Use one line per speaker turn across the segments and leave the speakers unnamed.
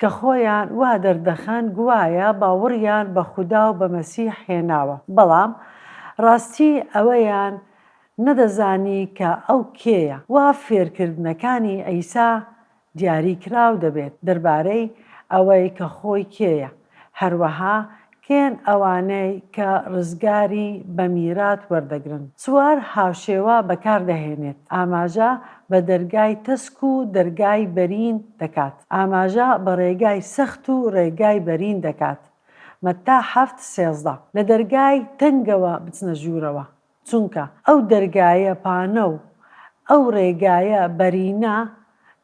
کە خۆیان وا دەردەخەن گوایە باوەڕیان بە خودا و بە مەسیح هێناوە، بەڵام ڕاستی ئەوەیان نەدەزانی کە ئەو کێیە. وا فێرکردنەکانی عیسا دیاریکراو دەبێت دەربارەی ئەوەی کە خۆی کێیە، هەروەها کێن ئەوانەی کە ڕزگاری بە میرات وەردەگرن؟ سوار هاوشێوە بەکار دەهێنێت، ئاماژە بە دەرگای تەسک و دەرگای بەرین دەکات، ئاماژە بە ڕێگای سەخت و ڕێگای بەرین دەکات، مەتتا حەفت سێزدە. لە دەرگای تەنگەوە بچنە ژوورەوە، چونکە ئەو دەرگایە پانە و ئەو ڕێگایە بەرینە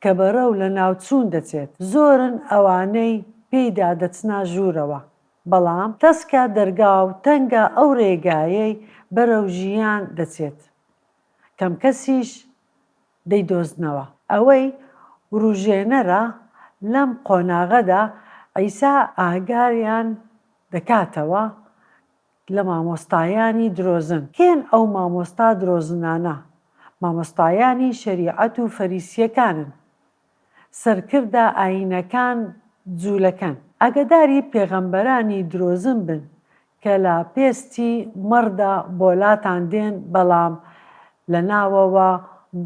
کە بەرەو لەناوچوون دەچێت، زۆرن ئەوانەی پێیدا دەچنە ژوورەوە، بەڵام تەسکە دەرگا و تەنگە ئەو ڕێگایەی بەرەو ژیان دەچێت، کەم کەسیش دەیدۆزنەوە. ئەوەی وروژێنەرە، لەم قۆناغەدا عیسا ئاگاریان دەکاتەوە لە مامۆستایانی درۆزن کێن ئەو مامۆستا درۆزنانە مامۆستایانی شەریعەت و فەریسیەکانن سەرکردە ئاینەکان جولەکەن ئاگەداری پێغەمبەرانی درۆزن بن کە لە پێستی مەڕدا بۆلاتان دێن بەڵام لە ناوەوە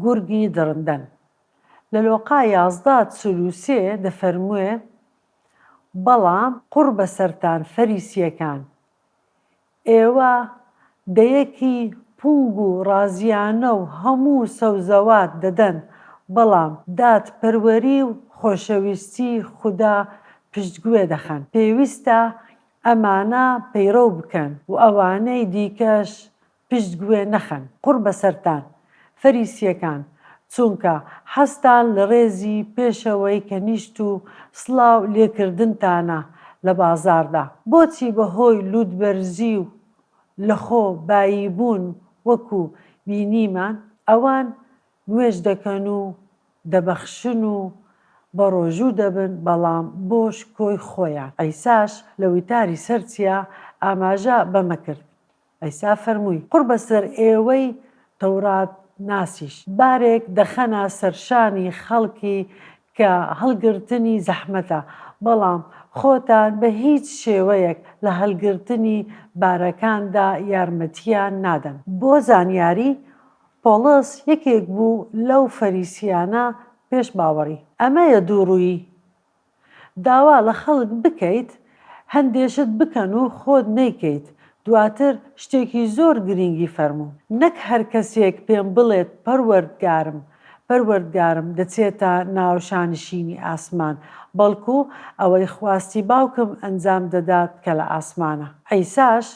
گورگی دڕندەن لە لۆقا یازدە چل و سێ دەفەرموێ بەڵام قوڕ بەسەرتان فەریسیەکان ئێوە دەیەکی پونگ و ڕازیانە و هەموو سەوزەوات دەدەن بەڵام دادپەروەری و خۆشەویستی خودا پشتگوێ دەخەن پێویستە ئەمانە پەیڕەو بکەن و ئەوانەی دیکەش پشت گوێ نەخەن قوڕ بەسەرتان فەریسیەکان چونکە حەزتان لە ڕێزی پێشەوەی کەنیشت و سڵاو لێکردنتانە لە بازاڕدا بۆچی بەهۆی لوتبەرزی و لە خۆ بایی بوون وەکو بینیمان ئەوان نوێژ دەکەن و دەبەخشن و بەڕۆژوو دەبن بەڵام بۆ شکۆی خۆیان عیساش لە وتاری سەر چیا ئاماژە بەمە کرد عیسا فەرمووی، قوڕ بەسەر ئێوەی تەوراتناسیش، بارێک دەخەنە سەرشانی خەڵکی کە هەڵگرتنی زەحمەتە، بەڵام خۆتان بە هیچ شێوەیەک لە هەڵگرتنی بارەکاندا یارمەتییان نادەن. بۆ زانیاری، پۆڵس یەکێک بوو لەو فەریسییانە پێش باوەڕی. ئەمەیە دووڕوویی، داوا لە خەڵک بکەیت هەندێ شت بکەن و خۆت نەیکەیت دواتر شتێکی زۆر گرینگی فەرموو نەک هەر کەسێک پێم بڵێت پەروەردگارم پەروەردگارم دەچێتە ناو شانشینی ئاسمان بەڵکو ئەوەی خواستی باوکم ئەنجام دەدات کە لە ئاسمانە عیساش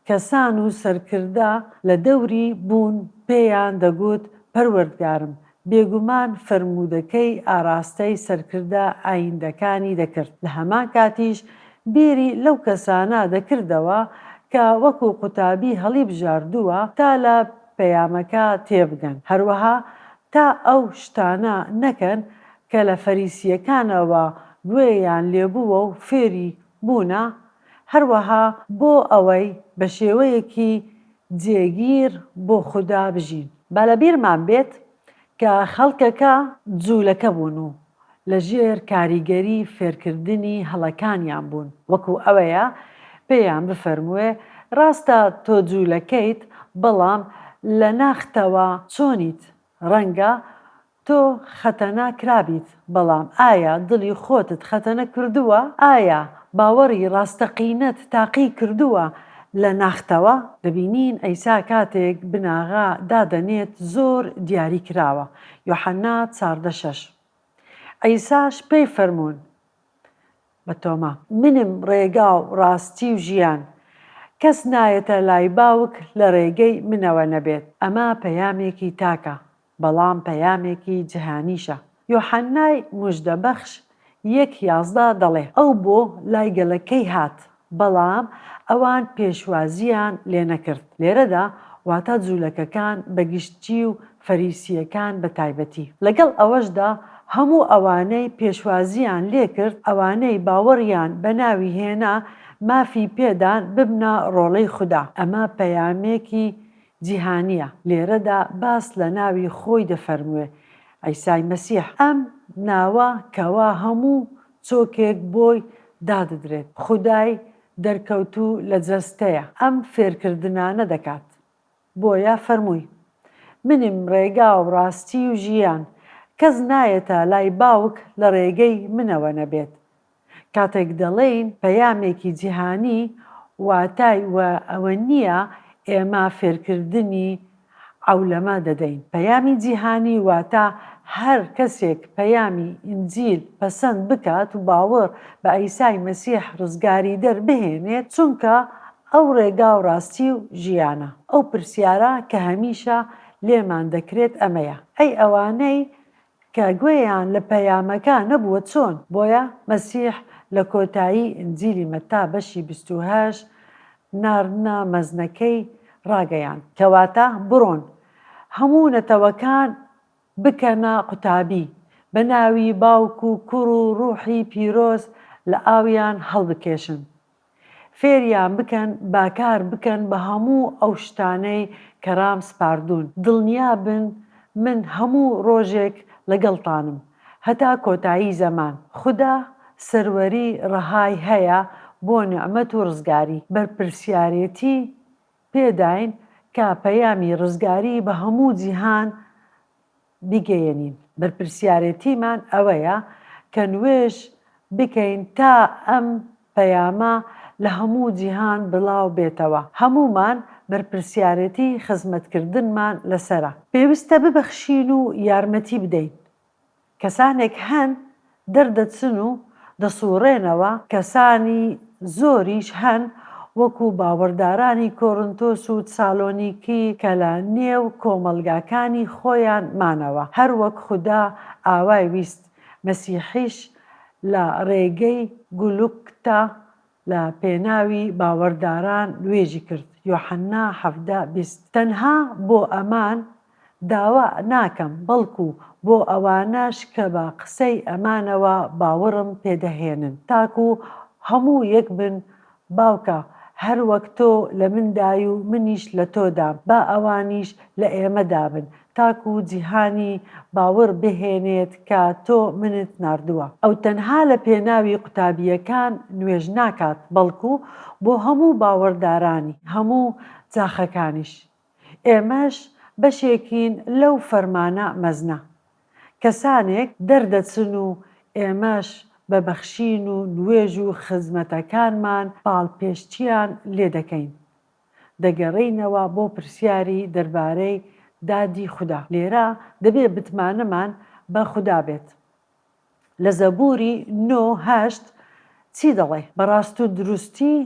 کەسان و سەرکردە لە دەوری بوون پێیان دەگوت پەروەردگارم، بێگومان فەرموودەکەی ئاراستەی سەرکردە ئاییندەکانی دەکرد، لە هەمان کاتیش بیری لەو کەسانە دەکردەوە کە وەکو قوتابی هەڵیبژاردووە تا لە پەیامەکە تێبگەن، هەروەها تا ئەو شتانە نەکەن کە لە فەریسییەکانەوە گوێیان لێبووە و فێری بوونە، هەروەها بۆ ئەوەی بە شێوەیەکی جێگیر بۆ خودا بژین. با لە بیرمان بێت کە خەڵکەکە جوولەکە بوون و لە ژێر کاریگەری فێرکردنی هەڵەکانیان بوون، وەکو ئەوەیە پێیان بفەرمووێ، ڕاستە تۆ جوولەکەیت، بەڵام لە ناختەوە چۆنیت؟ ڕەنگە تۆ خەتەنا کرابیت بەڵام ئایا دڵی خۆتت خەتەنە کردووە؟ ئایا باوەڕی ڕاستەقینەت تاقی کردووە لە ناختەوە؟ دەبینین عیسا کاتێک بناغە دادەنێت زۆر دیاری کراوە، یۆحەنا چاردە شەش. عیساش پێی فەرموون بە تۆما. منم ڕێگا و ڕاستی و ژیان، کەس نایەتە لای باوک لە ڕێگەی منەوە نەبێت. ئەمە پەیامێکی تاکە، بەڵام پەیامێکی جهانیشە. یۆحەننای موژدەبەخش یەک یازدە دەڵێ، ئەو بۆ لای گەلەکەی هات، بەڵام ئەوان پێشوازییان لێ نەکرد. لێرەدا واتا جوولەکەکان بە گشتی و فەریسییەکان بە تایبەتی. لەگەڵ ئەوەشدا هەموو ئەوانەی پێشوازییان لێ کرد، ئەوانەی باوەڕیان بە ناوی هێنا، مافی پێدان ببنە ڕۆڵەی خودا. ئەمە پەیامێکی جیهانیە، لێرەدا باس لە ناوی خۆی دەفەرمووێ، عیسای مەسیح، ئەم ناوە کەوا هەموو چۆکێک بۆی داددرێت، خودای دەرکەوتوو لە جەستەیە، ئەم فێرکردنانە دەکات، بۆیە فەرمووی، منم ڕێگا و ڕاستی و ژیان، کەس نایەتە لای باوک لە ڕێگەی منەوە نەبێت، کاتێک دەڵێین پەیامێکی جیهانی واتای وە ئەوە نییە ئێمە فێرکردنی عەولەمە دەدەین، پەیامی جیهانی واتە هەر کەسێک پەیامی ئینجیل پەسەند بکات و باوەڕ بە عیسای مەسیح ڕزگاریدەر بهێنێت چونکە ئەو ڕێگا و ڕاستی و ژیانە. ئەو پرسیارە کە هەمیشە لێمان دەکرێت ئەمەیە ئەی ئەوانەی کە گوێیان لە پەیامەکە نەبووە چۆن؟ بۆیە مەسیح لە کۆتایی ئینجیلی مەتا بەشی بیست و هەشت ناردنە مەزنەکەی ڕاگەیاند، کەواتە بڕۆن هەموو نەتەوەکان بکەنە قوتابی، بە ناوی باوک و کوڕ و ڕووحی پیرۆز لە ئاویان هەڵبکێشن. فێریان بکەن با کار بکەن بە هەموو ئەو شتانەی کە رام سپاردوون، دڵنیا بن من هەموو رۆژێک لەگەڵتانم هەتا کۆتایی زەمان، خودا سەروەری رەهای هەیە بۆ نیعمەت و رزگاری، بەرپرسیارێتی پێداین کە پەیامی رزگاری بە هەموو جیهان بیگەیەنین، بەرپرسیارێتیمان ئەوەیە کە نوێژ بکەین تا ئەم پەیامە لە هەموو جیهان بڵاو بێتەوە، هەموومان بەرپرسیارێتی خزمەتکردنمان لەسەرە، پێویستە ببەخشین و یارمەتی بدەین، کەسانێک هەن دەردەچن و دەسووڕێنەوە، کەسانی زۆریش هەن وەکوو باوەڕدارانی کۆرنتۆس و تسالۆنیکی کە لە نێو کۆمەڵگاکانی خۆیان مانەوە، هەر وەک خودا ئاوای ویست، مەسیحیش لە ڕێگەی گولگتا لە پێناوی باوەرداران نوێژی کرد، یۆحەنا حەڤدە، بیست، تەنها بۆ ئەمان داوا ناکەم، بەڵکو بۆ ئەوانەش کە بە قسەی ئەمانەوە باوڕم پێ دەهێنن، تاکو هەموو یەک بن، باوکە، هەروەک تۆ لە مندای و منیش لە تۆدا، با ئەوانیش لە ئێمەدا بن، تاکو جیهانی باوڕ بهێنێت کە تۆ منت ناردووە. ئەو تەنها لە پێناوی قوتابییەکان نوێژ ناکات، بەڵکو بۆ هەموو باوەڕدارانی هەموو جاخەکانیش. ئێمەش بەشێکین لەو فەرمانە مەزنە. کەسانێک دەردەچن و ئێمەش بە بەخشین و نوێژ و خزمەتەکانمان پاڵپێشچییان لێدەکەین. دەگەڕێینەوە بۆ پرسیاری دەربارەی دادی خودا. لێرە دەبێت متمانەمان بە خودا بێت. لە زەبووری نۆ هەشت چی دەڵێ؟ بە ڕاست و دروستی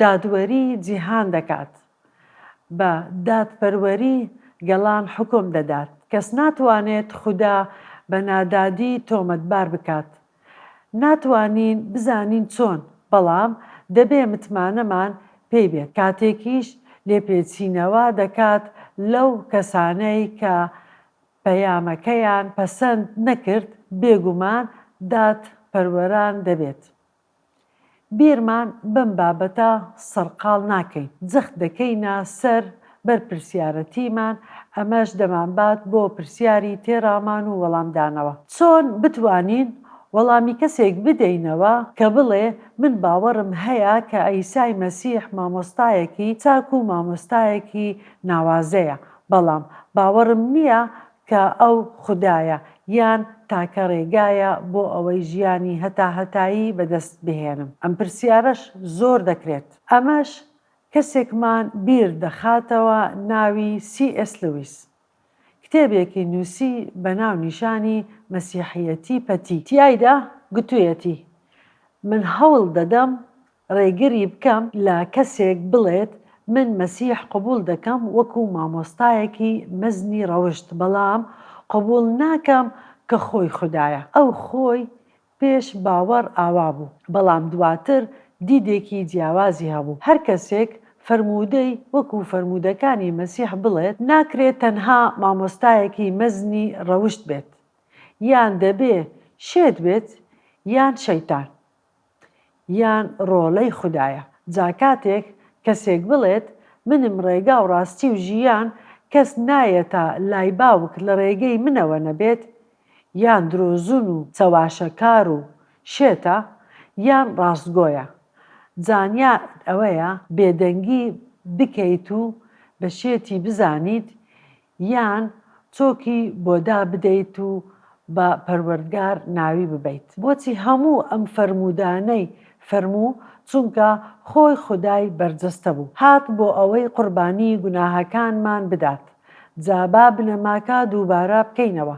دادوەری جیهان دەکات، بە دادپەروەری گەلان حوکم دەدات. کەس ناتوانێت خودا بە نادادی تۆمەتبار بکات. ناتوانین بزانین چۆن، بەڵام دەبێ متمانەمان پێی بێت، کاتێکیش لێپێچینەوە دەکات لەو کەسانەی کە پەیامەکەیان پەسەند نەکرد، بێگومان دادپەروەران دەبێت. بیرمان بەم بابەتە سەرقاڵ ناکەین، جەخت دەکەینە سەر بەرپرسیارەتیمان، ئەمەش دەمانبات بۆ پرسیاری تێڕامان و وەڵامدانەوە. چۆن بتوانین وەڵامی کەسێک بدەینەوە کە بڵێ من باوەڕم هەیە کە عیسای مەسیح مامۆستایەکی چاک و مامۆستایەکی ناوازەیە، بەڵام باوەڕم نییە کە ئەو خودایە، یان تاکە ڕێگایە بۆ ئەوەی ژیانی هەتاهەتایی بەدەست بهێنم؟ ئەم پرسیارەش زۆر دەکرێت. ئەمەش کەسێکمان بیر دەخاتەوە ناوی سی ئێس لویس. کتێبێکی نووسی بە ناونیشانی مەسیحیەتی پەتی. تیایدا گوتویەتی، من هەوڵ دەدەم ڕێگری بکەم لە کەسێک بڵێت من مەسیح قبوڵ دەکەم وەکو مامۆستایەکی مەزنی ڕەوشت بەڵام قبوڵ ناکەم کە خۆی خودایە ئەو خۆی پێش باوەڕ ئاوا بوو بەڵام دواتر دیدێکی جیاوازی هەبوو هەر کەسێک فەرموودەی وەکو فەرموودەکانی مەسیح بڵێت ناکرێت تەنها مامۆستایەکی مەزنی ڕەوشت بێت یان دەبێ شێت بێت یان شەیتان. یان ڕۆلەی خودایە جا کاتێک کەسێک بڵێت منم ڕێگاو ڕاستی و ژیان کەس نایەتە لای باوک لە ڕێگەی منەوە نەبێت یان درۆزن و چەواشەکار و شێتە یان ڕاستگۆیە زانیاریت ئەوەیە بێدەنگی بکەیت و بە شێتی بزانیت یان چۆکی بۆ دابدەیت و بە پەروەردگار ناوی ببەیت بۆچی هەموو ئەم فەرموودانەی فەرموو چونکە خۆی خودای بەرجەستە بوو هات بۆ ئەوەی قوربانی گوناهەکانمان بدات جا با بنەماکە دووبارە بکەینەوە.